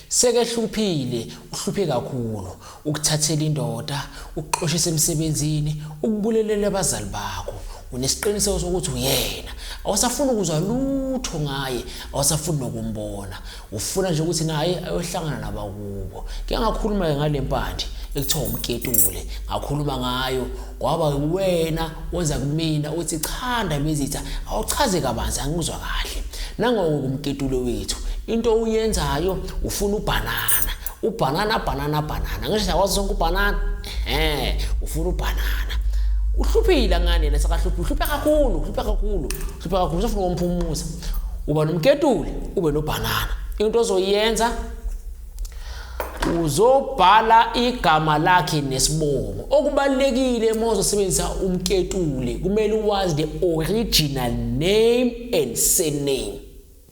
Sekehluphile, uhluphe kakhulu, ukuthathela indoda, ukuxoshisa emsebenzini, ukubulelela abazali bakho. Unesiqiniseko sokuthi uyena. Awusafuni ukuzwa lutho ngaye, awusafuni nokumbona. Ufuna nje ukuthi naye ayohlangana nabakubo. Ke ngakhuluma-ke ngale mpande ekuthiwa umketule, ngakhuluma ngayo Kwaba uwena oza kumina uthi cha Ndabezitha awuchaze kabanzi angikuzwa kahle. Nangoku kumketulo wethu into uyenzayo ufuna ubhanana. Ubhanana bhanana bhanana ngisho sakwazi sonke ubhanana. Ehhe ufuna ubhanana. Uhluphile ngane lesa kahluphi uhlupha kakhulu uhlupha kakhulu uhlupha kakhulu usafuna ukumphumuza. Uba nomketuli ube nobhanana. Into ozoyenza uzobhala igama lakhe nesibongo okubalekile uma uzosebenzisa umketule kumele uwazi the original name and surname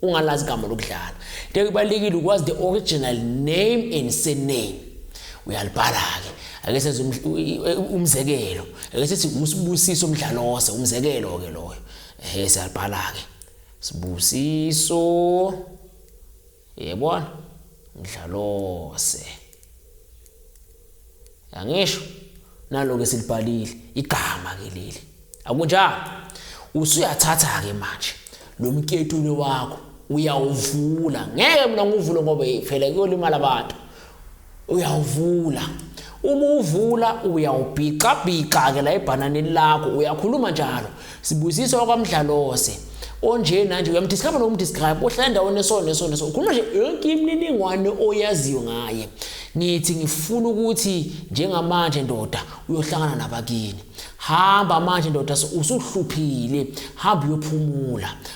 ungalazi igama lokudlala into kubalekile ukwazi the original name and surname uyalibhala ke ake senze umzekelo ake sithi usibusiso mdlalose umzekelo ke loyo ehe siyalibhala ke sibusiso Uyayibona? Ngidlalose. Angisho nalo ke silibhalile igama ke leli. Akunjalo. Usuyathatha ke manje lo mketule wakho uyawuvula. Ngeke mina ngivule ngoba phela kuyolimala abantu. uyawuvula uma uvula uyawubhixabhixa ke la ebhananeni lakho uyakhuluma njalo sibusiso wakwamdlalose onje nanje uyamdescribe nokumdescribe ohlala endaweni esona nesona so ukhuluma nje yonke imininingwane oyaziyo ngaye ngithi ngifuna ukuthi njengamanje ndoda uyohlangana nabakini hamba manje ndoda usuhluphile hamba uyophumula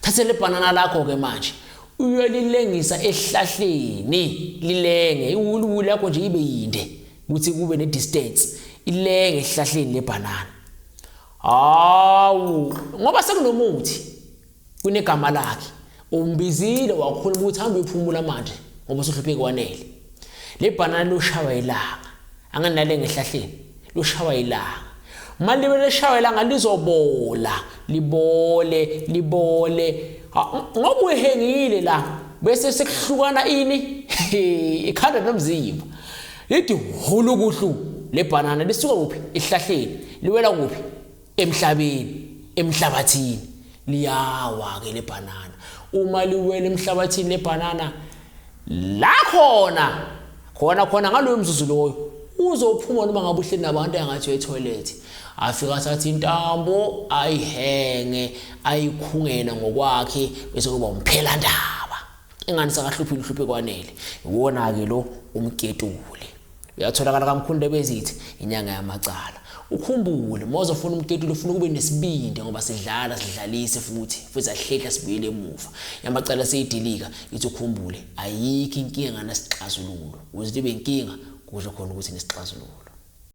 thathe le bhanana lakho-ke manje uyolilengisa esihlahleni lilenge iwuliwuli yakho nje ibe yinde ukuthi kube ne-distance ilenge esihlahleni lebhanana hawu ngoba sekunomuthi kunegama lakhe umbizile wakhuluma ukuthi hambe uyophumula manje ngoba usuhlupheki wanele le bhanana loshawa ilanga Anganale ngehlahleni lushawa ilanga. Uma libe leshawa ilanga lizobola, libole, libole. Ngoba uhengile la bese sekuhlukana ini? Ikhanda nomzimba. Lithi hulu kuhlu lebhanana lisuka kuphi? Ihlahleni. Liwela kuphi? emhlabeni emhlabathini liyawa ke lebhanana uma liwela emhlabathini lebhanana la khona khona khona ngaloyo mzuzu loyo uzophuma noma ngabe uhleli nabantu engathi uyetoilet afika athathe intambo ayihenge ayikhungele ngokwakhe bese kuba umphelandaba ingani sakahluphi luhluphe kwanele iwona-ke lo umketule Uyatholakala kaMkhulu Bezithi inyanga yamacala. Ukhumbule uma uzofuna umketuli ufuna ukube nesibindi ngoba sidlala sidlalise futhi futhi ahlehla sibuyele emuva. Yamacala seyidilika ithi ukhumbule ayikho inkinga nganasixazululo. Uzithi benkinga kusho khona ukuthi nesixazululo.